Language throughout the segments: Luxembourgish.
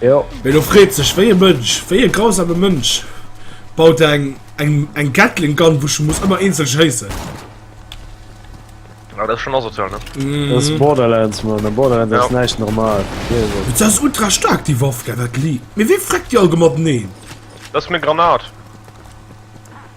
Jo. Mee lo freet sech wéi e Mënsch, wéi e grausame Mënsch baut eng eng eng Gatling Gun wou ech muss ëmmer eenzel schéissen. Ah dat ass schon asozial ne? Dat ass Borderlands Mann, a Borderlands ass näischt normal. Mee se ass ultra staark déi Waff, gell dat Li. Mee wee freckt déi all gemateneen? Dat ass meng Granat.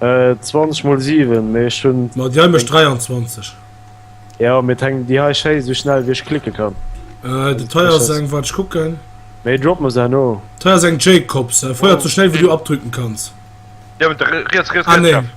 20 mol 7 mee ech hun. Ma déi hei mecht 23. Jo mee et hänkt déi hei schéi sou schnell wéi ech klicke kann. Äh de teier ass eng waart ech kucken. Mee drop mer se herno. Teier ass eng Jacobs, feiert sou schnell wéi du abdrücken kanns. Déi hei hunn riets riets riets schaarf.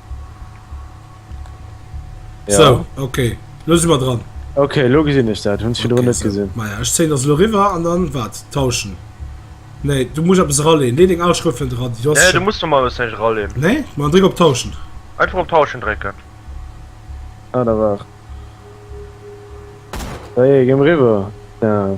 Ja. So, okay. Lo si mer dran. Okay, lo gesinn ech dat. Hunn ech virdrun net gesinn. Okay, so. Maja, ech zéien dat elo eriwwer an dann, wat? Tauschen? Nee, du muss eppes eraleen. Lee deng al Schrëft net eran. Nee, du muss normalerweis näischt eraleen. Nee? Ma dann dréck op Tauschen. Einfach op Tauschen drécken. Ah, da waart. Ça y est, gi mer eriwwer. Daa.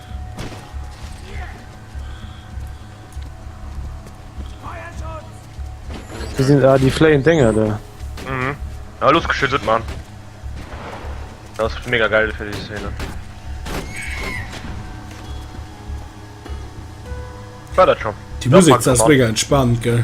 Wie sind da ah, die flying Dinger da? Mhm. Ja, los geschüttet, Mann. Das ist mega geil für die Szene. War das schon? Die Musik ist mega entspannt, gell?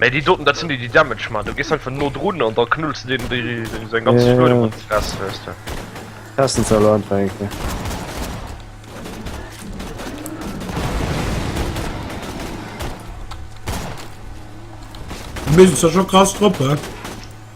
Mee déi doten dat sinn déi déi Damage man, du gees einfach no drun an da knulls de deenen déi seng ganz Luedung an d'Fress weiste. Essen ze elo einfach eng Kéier. Mir sinn zwar scho krass drop, he.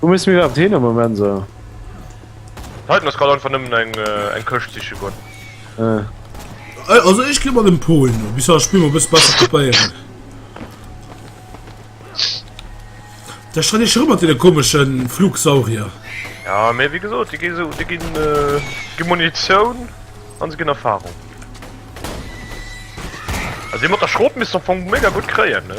Wou musse mir iwwerhaapt hin am Moment esou? D'Titan ass grad einfach nëmmen eng eng Këscht siche goen. Ah. Äh, also ech gi mat dem Po hin no, bis haut d'Spill mol bësse besser kapéieren. Da stand ech rëm mat deene komesche Flugsaurier. Ja, mee wéi gesot, déi gi sou, déi ginn, äh, gi Munitioun an se ginn Erfahrung. Also déi mat der Schrot misst am Fong mega gutt kréien, ne?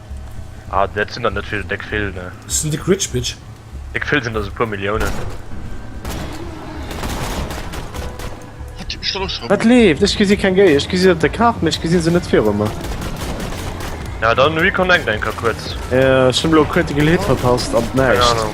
Ah dat sinn der net vill, déck vill ne. Dat sinn déck rich bitch. Déck vill sinn der se puer Milliounen. Dat leeft, ech gesi keng Géi, ech gesi dat der kacht, mee ech gesi se net viru mer. Ja dann reconnect enker kuerz. Ech hunn elo critical hit verpasst an d'näischt. Keng Ahnung.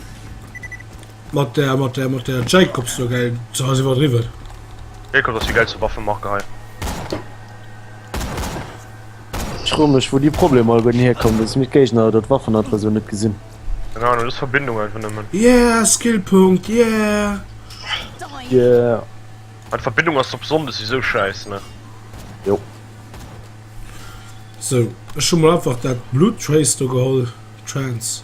Mat der, mat der, mat der Jacobs do, gell? So ass iwwerdriwwen. Jacob ass déi geilste Waffenmarke hei. Ech fro mech, wou déi Problemer all guerten hierkommen, dass mir d'Géigner oder d'Waffen einfach esou net gesinn. Keng Ahnung, dass Verbindung einfach nëmmen. Yeah, Skillpunkt, yeah! Yeah. Ah, d'Verbindung ass op Sonndes esou schäiss, ne? Jo. So, ech hu mol einfach dat Blood Trace do geholl. Trance.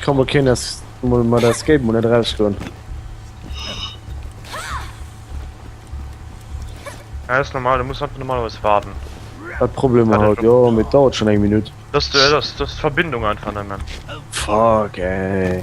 Ech kann mol keen es mol mat Escape mol net rausstoen. Ja, ist normal, du musst einfach normalerweise warten. Hat Probleme ja, halt, ja, mit dauert schon eng Minute. Das, das, das Verbindung einfach nehmen. Fuck, ey.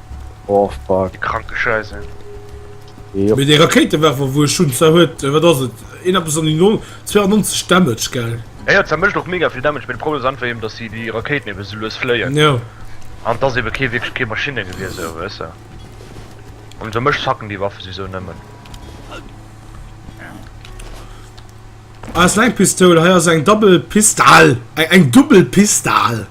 Oh fuck. Kranke Scheiße. Yep. Mee dee Rakéitewerfer wou ech hunn, zwar huet, wat ass et, een eppes an déi 92 Damage, gell? Jo jo, zwar mécht och mega vill Damage, mee de Problem ass einfach eben, datt déi déi Rakéiten eben esou lues fléien. Jo. An et ass eben kee wierklech kee Maschinne gewier esou, weess de. An esou mech fucken déi Waffe souwisou nëmmen. Ah, ass eng Pistoul, hei ass eng Double Pistal, eng Dubbel Pistal.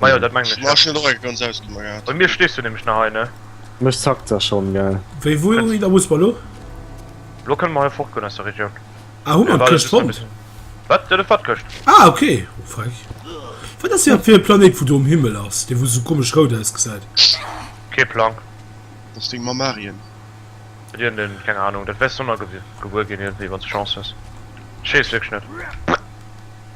Ma jo, dat mengen ech jo. Bei mir stees du nämlech nach hei, ne? Mech zackt da schonn, gell. Wéi, wou hu mir da Busper elo? Elo kënne mer hei fortgoen aus der Regioun. Ah, hu mer d'Këscht fonnt? Wat? Jo, dat war d'Këscht. Ah, ok. Oh, feig. Wat ass dat fir e Planéit, wou do um Himmel ass, dee wou esou komesch rout ausgesäit? Kee Plang. Dat ass deng Mamm Marion. Huet iergend een, keng Anung. Dat wäers du och nach gebuer ginn, iergendwéi, wann s de Chance hues. Ech weess wierklech net.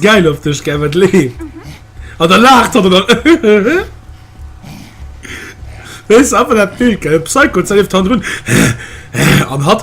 geil op dech ge le An der lacht hat oder Wees aber dat Bild ge Psycho zelift han run An hat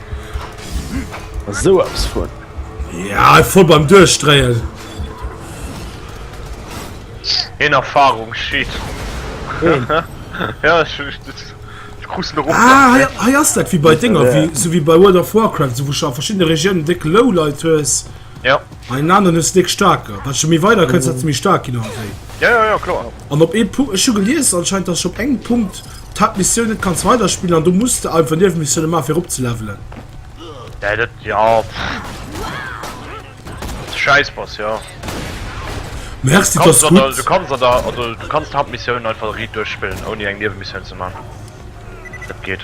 So abs vu. Ja voll beim Duerchstreien. In Erfahrung schiet. ja, ich, ich, ich, ich kruste rum. Ah, ja, ja, das wie bei Dinger, wie, so wie bei World of Warcraft, so wo schon verschiedene Regionen dick Lowlight hast. Ja. An den aneren hues de déck staarker. Wat de méi weider kënns, wat de méi staark ginn ass. Jo, jo, jo, kloer. An op ee Punkt, ech hu gelies anscheinend, dass ech op engem Punkt d'Haaptmissioun net kanns weiderspillen an do muss de einfach Niewemissioune maachen, fir eropzelevelen. Dä dat, jo. Wat de Schäiss bass, jo. Merci, dass du gutt. Du kanns an der, also du kanns d'Haaptmissioun einfach riit duerchspillen, ouni eng Niewemissioun ze maachen. Dat geet.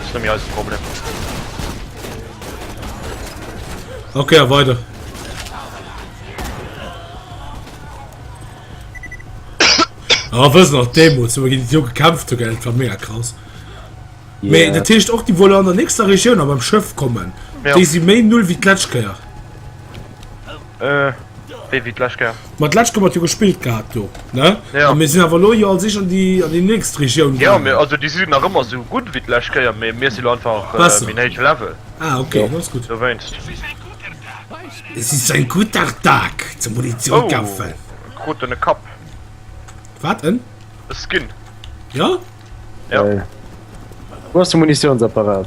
Ass nëmme eisen Problem. Ok, a weider. Ah, wëssen nach Demo zu gin Jo gekämpft zu Geld war mega krass. Yeah. Mee dat Teescht och die wolle an der nächster Regioun a beim Schëff kommen. Ja. Déi si méi null wie d'Kletschkeier. Wéi wéi d'lescht Kéier? Ma d'lescht Kéier mat jo gespillt gehat do, ne? Jo. A mir sinn awer elo jo als Eescht an déi, an déi nächst Regioun gaangen. Jo, mee also déi si nach ëmmer esou gutt wéi d'lescht Kéier, mee mir si lo einfach Besser. méi héich Level. Ah, okay, dann ass gutt. Dowéinst. Es ist ein guter Tag zum Munition kaufen. Oh, krut en e Kapp. Wat? En? E Skin. Ja? Ja. Geil. Wou ass de Munitiounsapparat?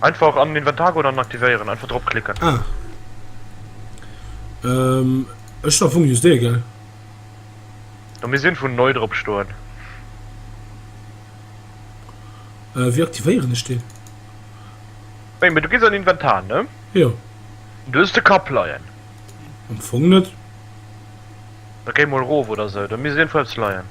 Einfach an den Inventar goen an en aktivéieren. Einfach drop klicken. Ah. Ehm, ech hun am Fong just dee, gell? Do misst een vun neu drop stoen. Äh, wéi aktivéieren ech deen? Wéi, mee du gees an den Inventar, ne? Jo. An do hues de Kapp leien. Am Fong net. Da géi mol rof oder sou, do misst iergendwou eppes leien.